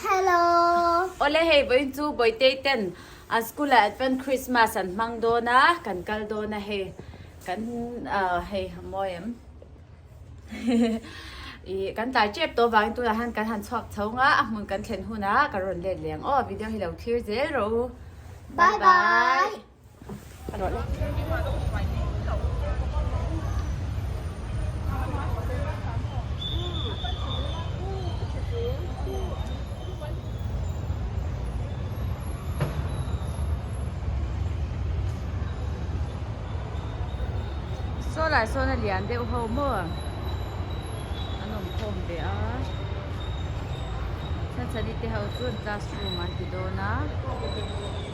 Hello. Ole hei vawiin chu Bawitei ten an school ah chuan Christmas an hmang dawn a kan kal dawn a hei kan hei mawi em i kan tlai tep tawh vangin tunah hian kan han chhuak chho nga a hmun kan thlen hunah ka rawn let leh ang aw video hi lo thlir zel rawh u. Bye bye. Saw lai sawn a lian deuh ho maw? An awm khawm ve a. Chhachani te ho chuan classroom an ti dawn a.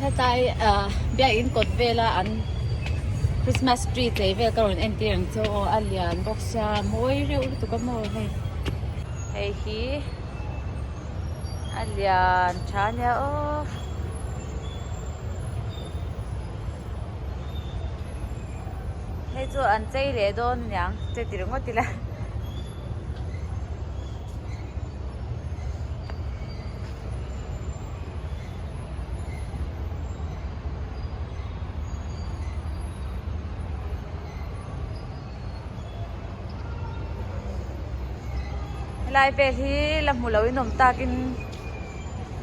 hetlai ah biak in kawt vel a an christmas tree tlei vel ka rawn entir ang chu aw a lian bawk sia a mawi reuh lutuk a mawi hei hei hi a lian tha nia aww. hei chu an chei leh dawn a niang che ti ringawt ila helai vel hi la hmu lo in awm takin.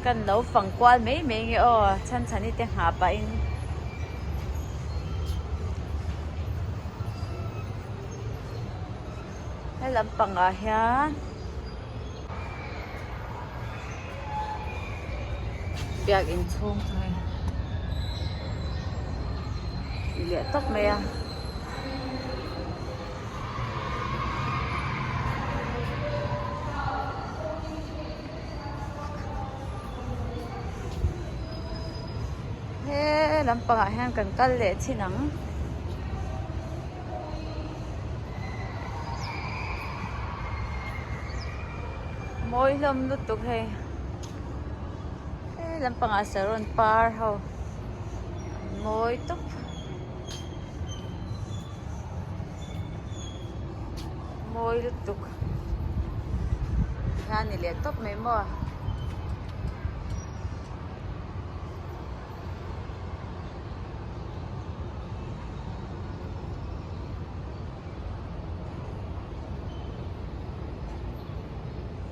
Kan lo fang kual mai mai nge aw Chhanchhani te nghah pahin. He lam pangah hian Biakin chhung hi i leh tawp mai a. he lam pangah hian kan kal leh chin ang mawi hlawm lutuk hei he lam pangah saron par ho an mawi tawp. mawi lutuk tikhian a ni leh tawp mai maw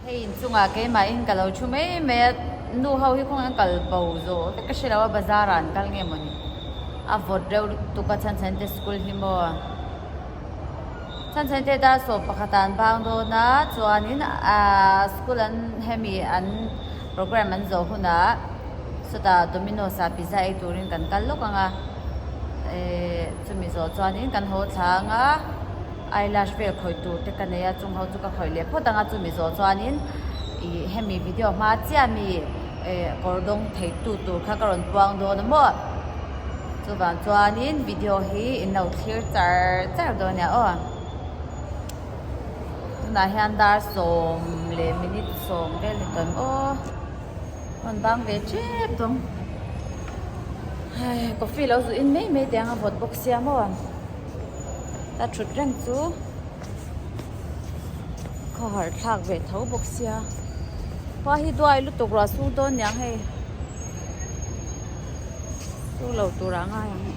Hei in chungah keimahin ka lo thu mai mai a, nu ho hi khawng hian kal bo zawh vek ka hre lo a, bazar ah an kal nge maw ni? A vawt reuh lutuk a, chhanchhan te school hi maw? Chhanchhan te dar sawm pakhat ah an bang dawn a, chuanin aaa school an hemi an program an zawh hun ah sawtah Dominos ah pizza ei turin kan kal lawk ang a, ehh chumi zawh chuanin kan haw thlang a. Eyelash vel khawih tur te ka nei a, chungho chu ka khawih leh phawt ang a, chumi zawh chuanin ih hemi video hma chiah mi eh kawr dawng theitu tur kha ka rawn puang dawn a maw, chuvang chuanin video hi in lo thlir char char dawn a nia aw, tunah hian dar sawm leh minute sawm vel ni tawn aw a rawn bang ve tep dawn, hai coffee lo zuh in mai mai te ang a vawt bawk sia maw. a thut reng chu kha harh thlak ve tho bawk sia pa hi duai lutuk ruah sung dawn niang hei sung lo turah ngai ang hei.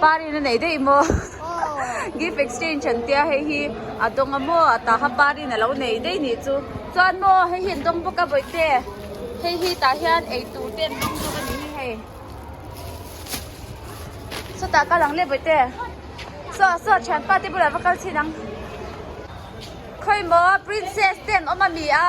Parin a nei daih maw? Gift exchange an tia hei hi a dawng a maw? A tah kha parin a lo nei daih nih chu. Chuan maw hei hi an dawng bawk a Bawihte. Hei hi tah hian eitur te an ding bawk a nih hi hei. Sawtah kal ang le Bawihte. Saw, saw thian pa te bulah va kal chin ang. Khawimaw princess te an awm a mi a.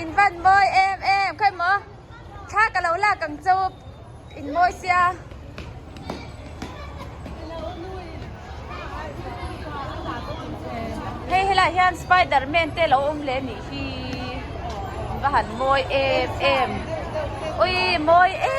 in van mawi em em khawi maw thla ka lo lak ang chu in mawi sia hei he lah hian spiderman te lo awm leh nih hi va han mawi em em ui mawi e.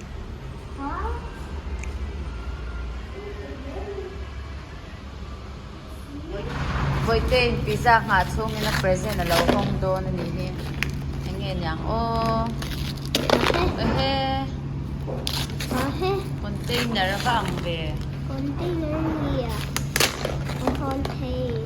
Vawitain pizza nghah chhungin a present a lo hawng dawn a nih hi. Eng nge niang aw. Ehe. Container a va ang ve. Container nia. Ka hawn thei.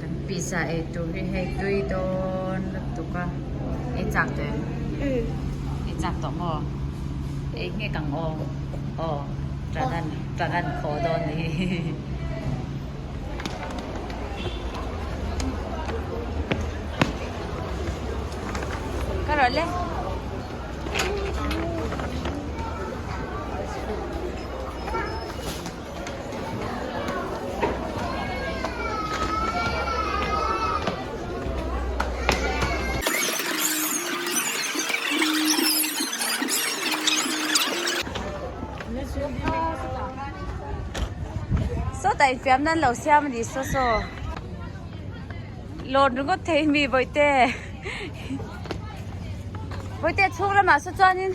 Kan pizza ei tur hi hei tui dawn lutuk a, ei chak tawh em? Umm. Ei chak tawh maw? Ei nghek ang aw. Aw, Tranan, Tranan khaw dawn ni hi. Ka rawh le. ta infiam nan lo siam ani saw saw lawn ringawt thei mi vawi te vawi te chhung lamah saw chuan in.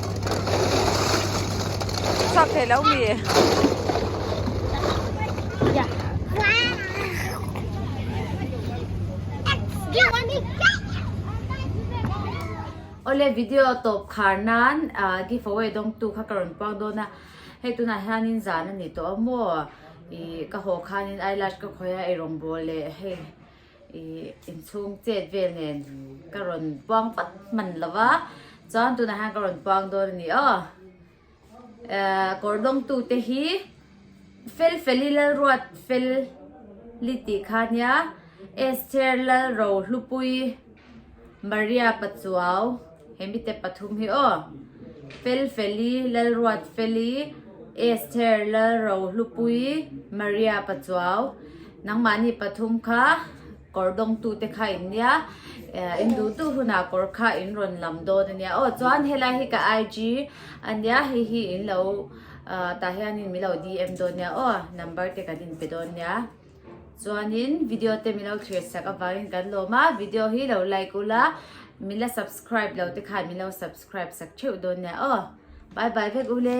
Chak thei lo mi. Ole video top khar nan giveaway dawng tu kha ka rawn puak dawn a hei tunah hian in zan a ni tawh a maw i ka haw khan in eyelash ka khawih a i rawngbawh leh hei. inchhung chet vel nen ka rawn puang vat hman lo va chuan tunah hian ka rawn puang dawn a ni a kawr dawng tu te hi fel fel i lal ruat fel li tih kha nia es cher lal ro hlupui Maria Pachuau he mite pathum hi aw, Fel Feli, Lalruat Feli, Esther Lalro Hlupui, Maria Pachuau, nangmahni pathum kha kawr dawng tu te kha in nia, in duh duh huna kawr kha in rawn lam dawn a nia, aw chuan helai hi ka IG a nia hei hi in lo tah hian min lo DM dawn a nia aw, number te kan inpe dawn a nia. Chuanin video te min lo chhiarsak avangin kan lawm a, video hi lo like u la, min la subscribe lo te khan min lo subscribe sak theuh dawn nia aw. Bye bye vek u le.